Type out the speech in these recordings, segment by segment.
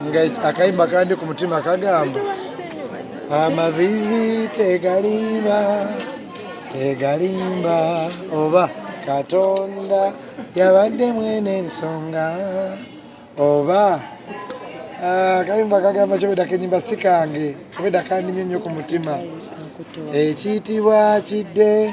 nga akayimba kandi ku mutima kagamba amavivi tegalimba tegalimba oba katonda yabadde mwene ensonga oba ah, kayimba kagamba kyobeda kenyimba si kange obeda kandi nyo nyo ku mutima ekiyitibwa kidde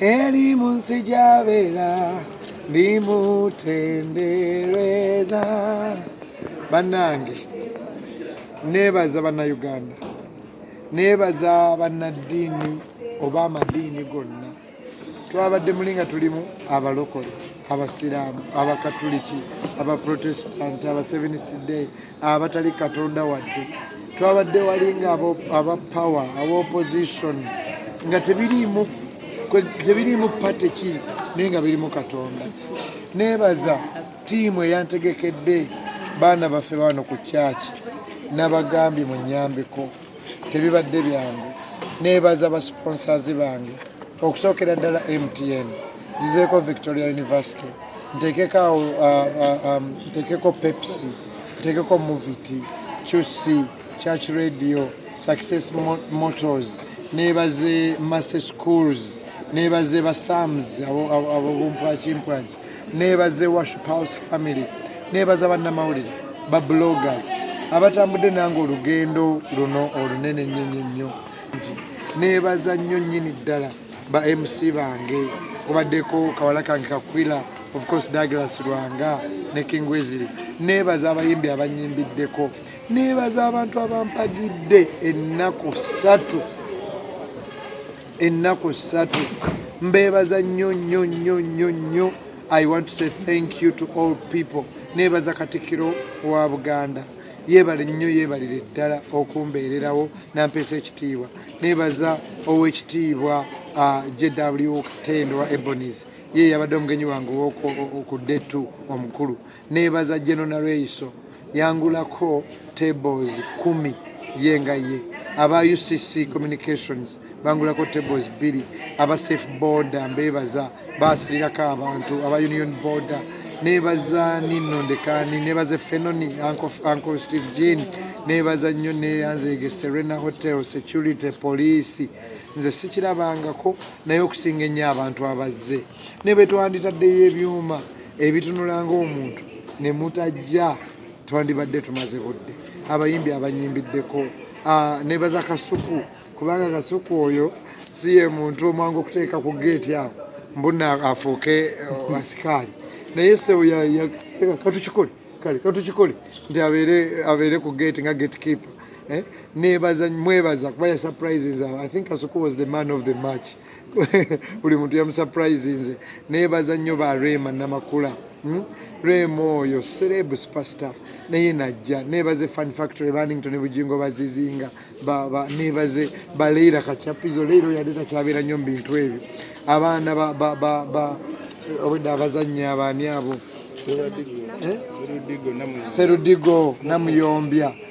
eri mu nsi gy'abeera ndimutendereza bannange neebaza bannayuganda neebaza bannaddiini oba amadiini gonna twabadde muli nga tulimu abalokole abasiraamu abakatuliki abaprotestant abaseventh day abatali katonda wadde twabadde walinga aba power aba opposition nga tebiriimu tebiriimu pate ki naye nga birimu katonda neebaza tiimu eyantegekedde baana baffe baano ku kyaki nabagambye mu nyambeko tebibadde byangu nebaza ba sponsors bange okusookera ddala mtn zizeeko victoria university ntekeko awo uh, uh, um, ntekeko pepsi ntekeko movity qc church radio success motors nebaze masse schools nebaze ba sams abobumpwakimpwaki neebaze worship house family neebaza bannamawulire ba bloggers abatambudde nange olugendo luno olunene nnyonyo nnyo neebaza nnyo nnyini ddala ba mc bange kubaddeko kawala kange kakwila of course douglas lwanga ne king wesly neebaza abayimbi abanyimbiddeko neebaza abantu abampagidde ennaku ssatu ennaku ssatu mbeebaza nnyo nnyo nnyo nnyo nnyo i want to say thank you to all people neebaza katikkiro wa buganda yeebale nnyo yeebalire ddala okumbeererawo nampeesa ekitiibwa neebaza ow'ekitiibwa uh, jw katendo wa ebonis ye yabadde omugenyi wange okudde tu omukulu nebaza jeno nareiso yangulako tables kumi ye nga ye aba ucc communications bangulako tables bbiri aba safe border mbebaza basalirako abantu aba union border nebaza nino ndekani nebaza fenoni anko steve jean nebaza nnyo neyanzege serena hotel security police nze sikirabangako naye okusinga ennyo abantu abazze ne bwe twanditaddeyo ebyuma ebitunula ng'omuntu ne mutajja twandibadde tumaze budde abayimbi abanyimbiddeko ah, nebaza kasuku kubanga kasuku oyo si ye muntu omwangu okuteeka ku geeti awo mbuna afuuke eh, asikaali naye sebo katukikole kale katukikole nti abeere ku geeti nga gate keeper eh? nebaza mwebaza kuba ya surprises i think kasuku was the man of the match buli muntu yamusuprise nze nebaza nnyo ba rema namakula hmm? rema oyo sereb superstar naye najja nebaze fan factory banington bugingo bazizinga nebaze baleira kachapizo leero yade takyabeera nnyo mubintu ebyo abaana obwedda abazannya abaani abo serudigo eh? namuyombya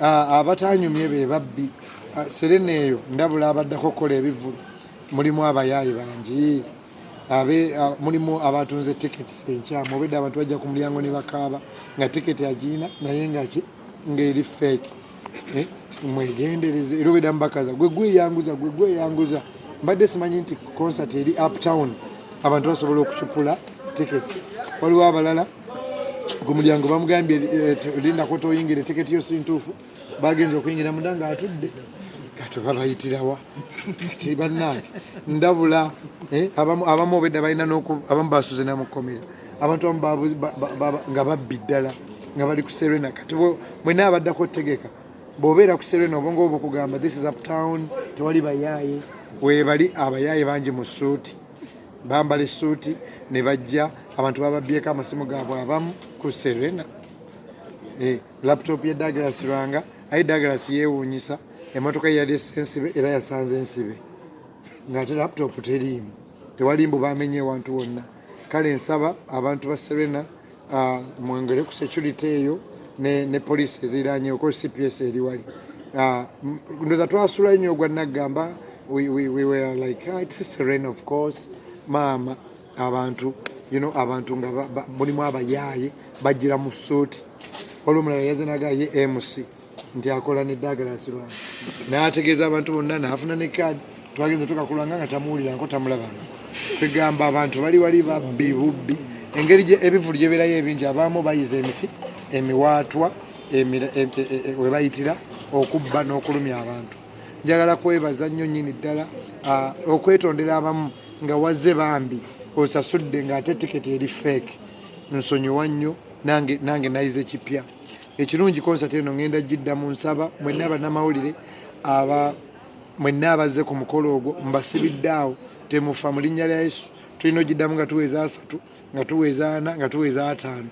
Ah, abatanyumye be babbi ah, serena eyo ndabula abaddako okukola ebivulu mulimu abayaayi bangi ah, mulimu abatunze tiketi enkyamu obedde abantu bajja ku mulyango ne bakaaba nga tiketi agiina naye ngaki ngaeri feeki eh, mwegendereze era obedda mubakaza gwe gweyanguza gwe gweyanguza mbadde simanyi nti concert eri uptown abantu basobola okucupula tiketi waliwo abalala gumulyango bamugambye eh, lindako toyingira etiketi yo sintuufu bagenza okuyingira munda nga atudde kati babayitirawa kati bannange ndabula eh, abamu obedda balina abamu basuze namukomera abantu abamu nga babbi ddala nga bali ku serena kati mwena abaddako otegeka bwobeera ku serena obonga obukugamba this is uptown tewali bayaaye webali abayaaye bangi mu suuti bambala essuuti ne bajja abantu bababbyeko amasimu gaabwe abamu ku serena eh, laptop ya dagalas lwanga aye dagalas yeewuunyisa emotoka yeyali esensibe era yasanze ensibe ngaate laptop teriimu tewali mbu bamenye ewantu wonna kale nsaba abantu ba serena Ah, mwongere ku security eyo ne, ne police eziranye oko cps eri wali ah, ndoza twasula nnyo ogwa naggamba we, we, we were like ah, it's serene of course maama abantu you know abantu nga mulimu abayaaye bajjira mu suuti olwo omulala yazinaga ye mc nti akola ne Douglas Lwanga n'ategeeza abantu bonna n'afuna ne kaadi twagenze tuka ku Lwanga nga tamuwuliranko tamulabanga kwegamba abantu bali wali babbi bubbi engeri ebivulu gye beerayo ebingi abaamu bayiza emiti emiwaatwa e, e, e, we bayitira okubba n'okulumya abantu njagala kwebaza nnyo nnyini ddala okwetondera abamu nga wazze bambi osasudde ng'ate tiketi eri feeke nsonyiwa nnyo nange nayize kipya Ekirungi konsati eno ngenda giddamu nsaba mwenna bannamawulire aba mwenna abazze ku mukolo ogwo mbasibidde awo temufa mu linnya lya Yesu tulina ogiddamu nga tuweza asatu nga tuweza ana nga tuweza ataano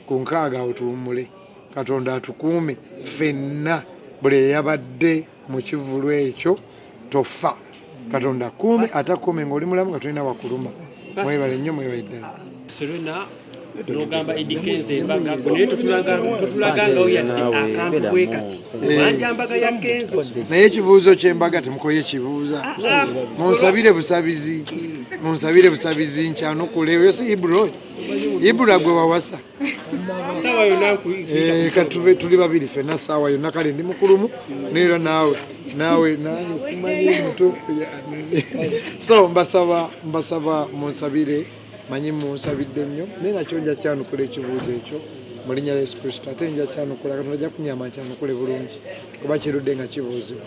ku nkaaga awo tuwummule katonda atukuume ffenna buli eyabadde mu kivulu ekyo tofa katonda kuume atakuume ng'oli mulamu nga tulina wakuluma mwebale nnyo mwebale ddala nogamba edikenza embaga naye totulagangawo yadde akantu bwe kati manja mbaga ya kenzo naye ekibuuzo kyembaga temukoye kibuuza ah, ah. munsabire busabizi munsabire busabizi nkyanukule oyo si ibro ibra gwe wawasa sawa yona eh, katube tuli babiri fena sawa yona kale ndi mukulumu nera nawe nawe nakumanyi mutufu so mbasaba mbasaba munsabire manyi munsabidde nnyo naye nakyo nja kyanukula ekibuuzo ekyo mu linnya lya yesu kristo ate nja kyanukula katonda ajja kunyamba nkyanukule bulungi kuba kirudde nga kibuuzibwa